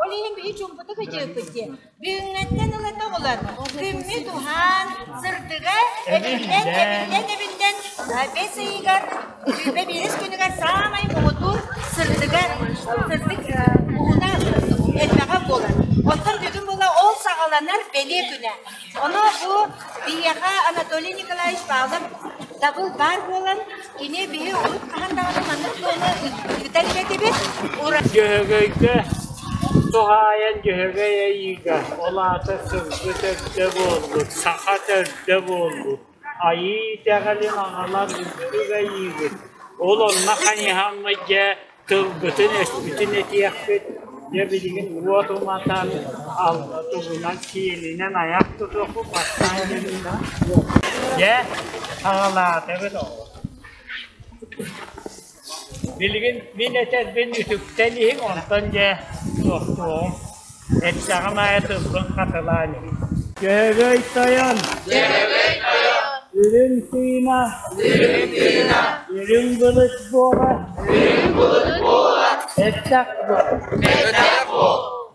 Ол иһин били чуумпутук ыдьыыкпыт диэн бүгүҥҥэттэн ыла тобулан күммүт уһаан сырдыгар эбиллэн эбиллэн эбиллэн бэс ыйыгар сүүбэ биэс күнүгэр саамай муҥутуур сырдыга сырдык уһуна элбэҕэ буолар. Оттон бүгүн була ол саҕаланар бэлиэ күнэ. Ону бу биһиэхэ Анатолий Николаевич Павлов дабыл баар буолан, кини биһи урут хаһан даҕаны маннык туону ыытар бэкибит. Дьөһөгөйгө туһаайан дьөһөгөй айыыга ол аата сылгы төрдө буолбут, саха төрдө буолбут Айыы итэҕэлин аҕалан үбүлүгэйиигит, ол онно хайыһаммыт дьэ тылгытын-өспүтүн этиэхпит, дьэ билигин уот уматан, алла тугунан киэлинэн айах тутуоху бастаан кэлбитэ. Дьэ, саҕалаата эбит оҕо Билигин мин этэрбин үтүктэн иһиҥ, онтон дьэ тохтуоҕуҥ, эттэҕим аайы тылбын хатылаан иһиҥ Дьөһөгөй тойон Үрүҥ тыына Үрүҥ былыт буола Эттэх буол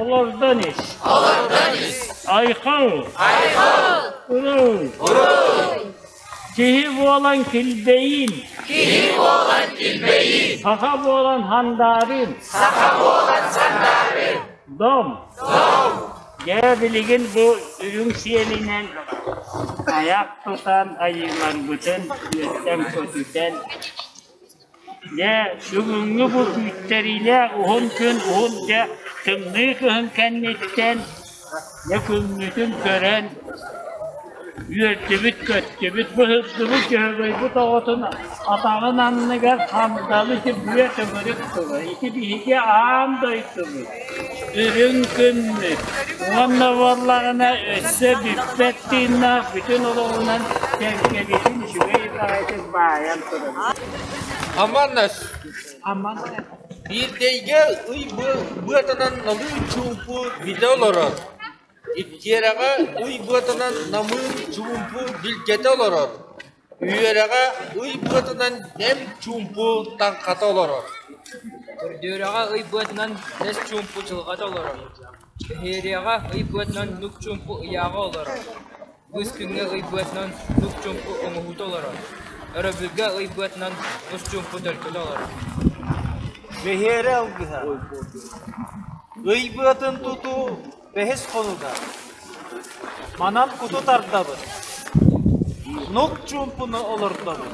Олордон ис. Айхал. Уруу. Киһи буолан килбэйин. Киһи буолан килбэйин. Саха буолан хандаарин. Саха буолан сандаарин. Дом. Дом. Дьэ билигин бу үрүҥ сиэлинэн аяк тутан айыыларбытын үөттэн көтүтэн Дьэ, бүгүҥҥү бу күүттэриилээх уһун күн уһун-дьэ тымныы кыһын кэнниттэн Ньукуҥҥутун көрөн, үөрдүбүт-көттүбүт, быһырдыбыт дьөһөгөйбүт оҕотун атаҕын анныгар хандалы симбиэ төгүрүк тылы, ити биһиги аан дойдубут Үрүҥ күммүт уонна буоллаҕына өссө бүппэт тыыннаах бүтүн олоҕунан кэккэлитин үчүгэй баҕайытык баайан турар Аманнас Аман Биирдэйгэ ый быатынан намыын чуумпу бүтэ олорор Иккиэрэҕэ ый быатынан намыын чуумпу билгэтэ олорор Үөрэҕэ ый быатынан эмп-чуумпу таҥхата олорор. Көрдүөрэҕэ ый быатынан бэс чуумпу дьылҕата олорор. Кэһиэриэҕэ ый быатынан нук-чуумпу ыйааҕа олорор. Быыстыҥҥа ый быатынан нук-чуумпу оҥоһуута олорор. Өрөбүлгэ ый быатынан нус-чуумпу төлкөтө олорор. Бэһиэрэ алгыһа Ый быатын тутуу Бэһис хонуга манан куту тардабыт, нук чуумпуну олордобут,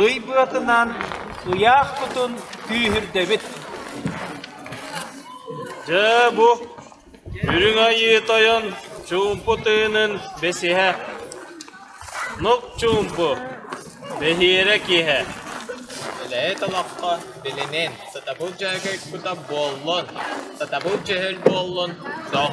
ый быатынан ыйаах кутун күүһүрдэбит. Дьэ бу Үрүҥ Айыы Тойон чуумпу тыынын бэсиһэ Нук-чуумпу, бэһиэрэ киэһэ Үлэһит олоххо билинин, сатабыл дьөһөгөйкута буоллун, сатабыл дьөһөл буоллун, тоҥ.